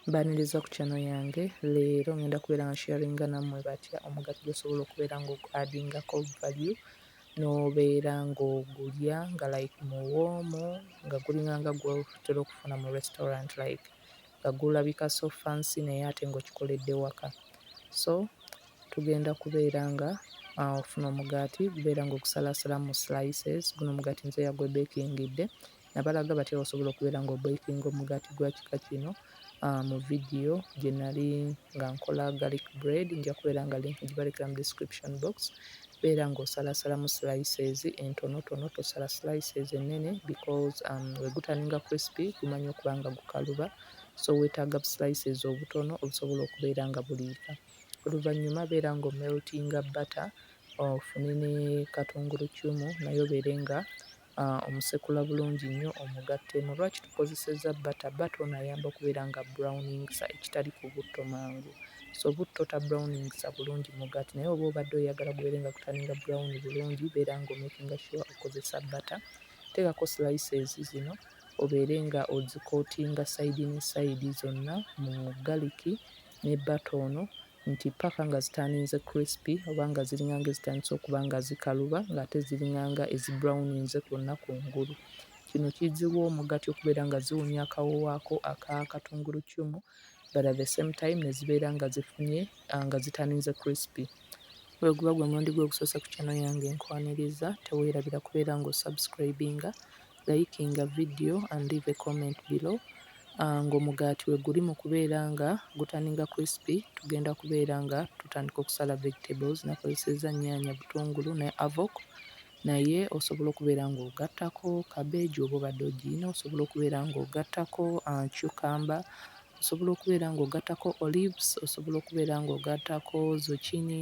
Mbaniriza ku channel yange leero ngenda kubeera nga sharinga nammwe batya omugaati gwosobola okubeera nga ogu adingako value n'obeera ng'ogulya nga like muwoomu nga gulinga nga gwotera okufuna mu restaurant like nga gulabika so fancy naye ate ng'okikoledde waka so tugenda kubeera nga uh, ofuna omugaati gubeera ng'ogusalaasala mu slices guno omugaati nze yagwebeekingidde nabalaga batya osobola okubeera nga obekinga omugaati gwa kika kino ah, mu vidiyo gye nali nga nkola garlic bread nja kubeera nga link gibalekera mu description box beera ng'osalasalamu slices entonotono tosala slices ennene because um, wegutaninga crispy gumanya okuba nga gukaluba so weetaaga slices obutono obusobola okubeera nga buliika oluvannyuma beera ng'omeltinga butter ofune ne katungulu cumu naye obeere nga Omusekula bulungi nnyo omugattemu. Lwaki tukozesezza bbata? Bbata ono ayamba okubeera nga abrowningisa ekitali ku butto mangu. So butto ta browningisa bulungi mugaati naye oba obadde oyagala gubeere nga gutaninga brown bulungi beera nga omakinga sure okozesa bbata. Teekako slices zino obeere nga ozikootinga sayidi ne sayidi zonna mu galiki ne bbata ono nti ppaka nga zitandinze crispy oba nga ziringanga ezitandise okuba nga zikaluba ng'ate ziringanga ezibrownninze kwonna ku ngulu. Kino kiziwa omugaati okubeera nga ziwunya akawoowo ako aka katunguluccumu but at the same time ne zibeera nga zifunye ah, nga zitandinze crispy. Bwe guba gwe mulundi gwe ogusoose ku channel yange nkwaniriza, teweerabira kubeera ng'osubscribinga Likinga video and leave a comment below ngo mugaati weguli mukubeera nga gutaninga crispy tugenda kubeera nga tutandika okusala vegetables nakozeseza nyanya butungulu ne avok naye osobola okubeera nga ogattako cabbage oba obadde ogiyina osobola okubeera nga ogattako uh, cucumber osobola okubeera nga ogattako olives osobola okubeera nga ogattako zucchini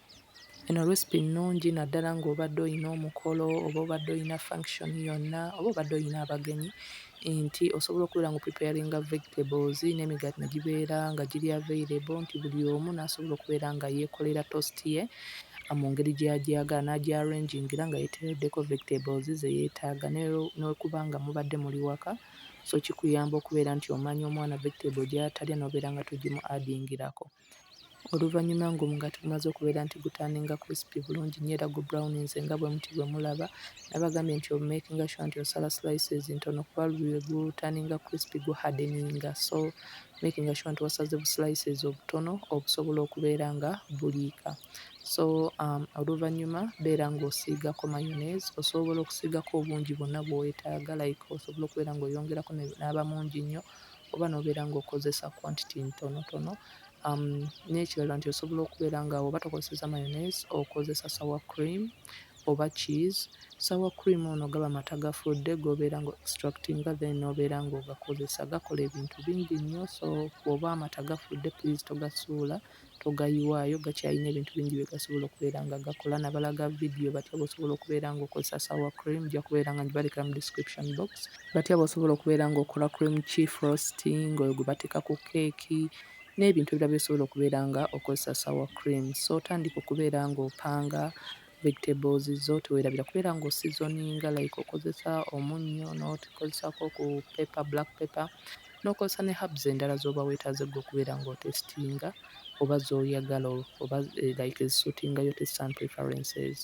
Eno recipe nnungi naddala ng'obadde olina omukolo oba obadde olina function yonna oba obadde olina abagenyi nti osobola okubeera ng'o preparinga vegetables n'emigaati ne gibeera nga giri available nti buli omu n'asobola okubeera nga yeekolera toast ye mu ngeri gy'agyagala n'agya-arrangingira nga yeeteereddeko vegetables ze yeetaaga ne bwekuba nga mubadde muli waka so kikuyamba okubeera nti omanya omwana vegetable gy'atalya n'obeera nga togimu-adingirako. Oluvannyuma ng'omugaati gumaze okubeera nti gutandinga crispy bulungi nnyo era gu browninze nga bwe muti bwe mulaba, nabagambye nti omakinga sure nti osala slices ntono kuba lwe gutandinga crispy gu hardeninga so makinga sure nti wasaze bu slices obutono obusobola okubeera nga buliika. So um, oluvannyuma beera ng'osiigako mayonnaise, osobola okusiigako obungi bwonna bw'oyetaaga like osobola okubeera ng'oyongerako n'aba mungi nnyo oba nobeera nga okozesa quantity ntonotono um, nekirala nti osobola okubeera nga oba tokozeseza mayonnaise okozesa sour cream oba cheese sour cream ono gaba mata gafudde gobeera nga extractinga then nobeera nga ogakozesa gakola ebintu bingi nnyo so oba amata gafudde please togasuula togayiwaayo gakyalina ebintu bingi byegasobola okubeera nga gakola nabalaga video batya bwosobola okubeera nga okozesa sour cream nja kubeera nga ngibalekera mu description box batya bwosobola okubeera nga okola cream ki frosting oyo gwebateeka ku keeki n'ebintu ebirala byosobola okubeera nga okozesa sour cream so otandika okubeera nga opanga vegetables zo tewerabira kubeera nga osizoninga like okozesa omunnyo n'okozesako ku pepper black pepper n'okozesa ne herbs endala z'oba weetaaze ggwe okubeera nga otesitinga oba z'oyagala oba eh, like ezisutingayo test and preferences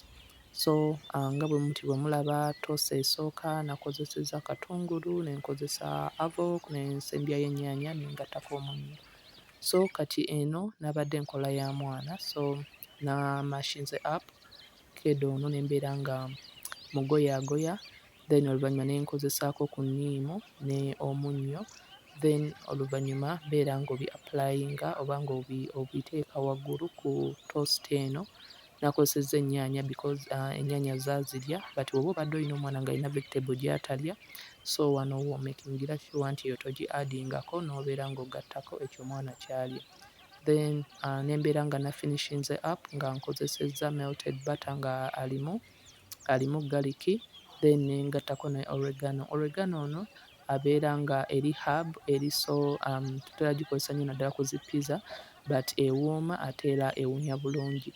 so uh, nga bwe muti bwe mulaba tosa esooka nakozeseza katungulu ne nkozesa avok ne nsembyayo ennyaanya ne ngattako omunnyo so kati eno nabadde nkola ya mwana so namashinze app kedo ono nembeera nga mugoyaagoya then oluvannyuma ne nkozesaako ku nniimu ne omunnyo then oluvannyuma beera ng'obi applyinga oba ng'obi obiteeka waggulu ku toast eno Nakozesezza ennyaanya because uh, ennyaanya zaazirya but bw'oba obadde olina omwana ng'alina vegetable gy'atalya so wano womakingira sure nti eyo togi adingako n'obeera ng'ogattako ekyo omwana ky'alya then uh, ne mbeera nga nafinishinze up nga nkozesezza melted butter nga alimu alimu galiki then ne ngattako ne oregano oregano ono abeera nga eri herb eri so um, tutera gikozesa nnyo naddala ku zi pizza but ewooma ate era ewunya bulungi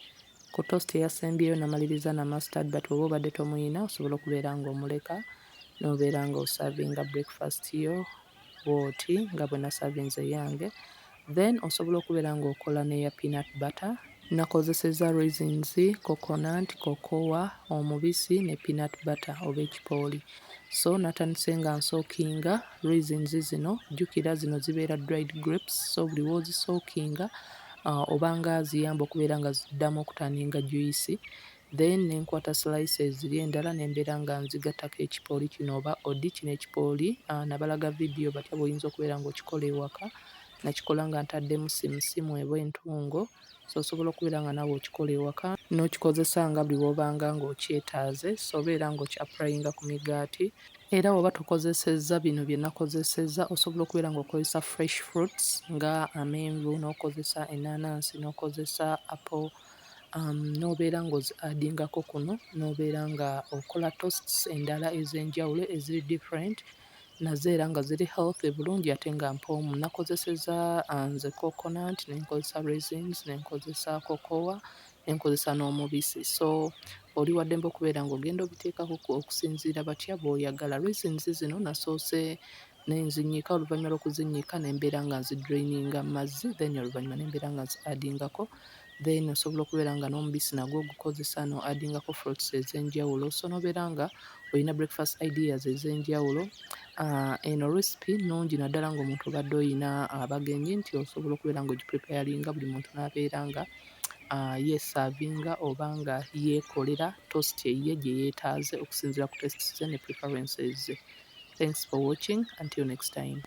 ku toast eyasembyeyo namaliriza na mustard but oba obadde tomuyina osobola okubeera nga omuleka nobeera nga osavinga breakfast yo bwoti nga bwe nasavinze eyange Then osobola okubera nga okola neya peanut butter. Nakozeseza raisins, coconut, cocoa, omubisi ne peanut butter oba ekipooli. So natandise nga nsookinga raisins zino, jukira zino zibeera dried grapes so buli wozisookinga obanga ziyamba okubeera nga ziddamu okutanninga juice. then nenkwata slices ri endala nembera nga nzigatako ekipooli kino oba odi kino ekipooli ah, nabalaga video batya bwoyinza okubeera nga okikola ewaka nakikola nga ntaddemu simusimu eba entungo so osobola okubeera nga nawe okikola ewaka n'okikozesa nga buli wobanga nga okyetaaze so obeera nga okyapulayinga ku migaati era woba tokozesezza bino bye nakozesezza osobola okubeera nga okozesa fresh fruits nga amenvu n'okozesa enanansi n'okozesa apple n'obeera ng'ozi adingako kuno n'obeera nga okola toasts endala ez'enjawulo eziri different nazo era nga ziri healthy bulungi ate nga mpoomu. Nakozesezza nze coconut ne nkozesa raisins ne nkozesa cocoa ne nkozesa n'omubisi so oli wa ddembe okubeera ng'ogenda obiteekako okusinziira batya b'oyagala. Raisins zino nasoose ne nzinnyika oluvannyuma lw'okuzinnyika ne mbeera nga nzidraininga mu mazzi then oluvannyuma ne mbeera nga nzi adingako then osobola okubeera nga n'omubisi nagwo ogukozesa no adingako fruits ez'enjawulo so nobeera nga olina breakfast ideas ez'enjawulo ah, eno recipe nungi naddala ng'omuntu obadde olina abagenyi nti osobola okubeera nga ogipreparinga buli muntu n'abeera nga yeesaavinga oba nga yeekolera toast eyiye gye yeetaaze okusinziira ku tastes ze ne preferences ze. Thanks for watching until next time.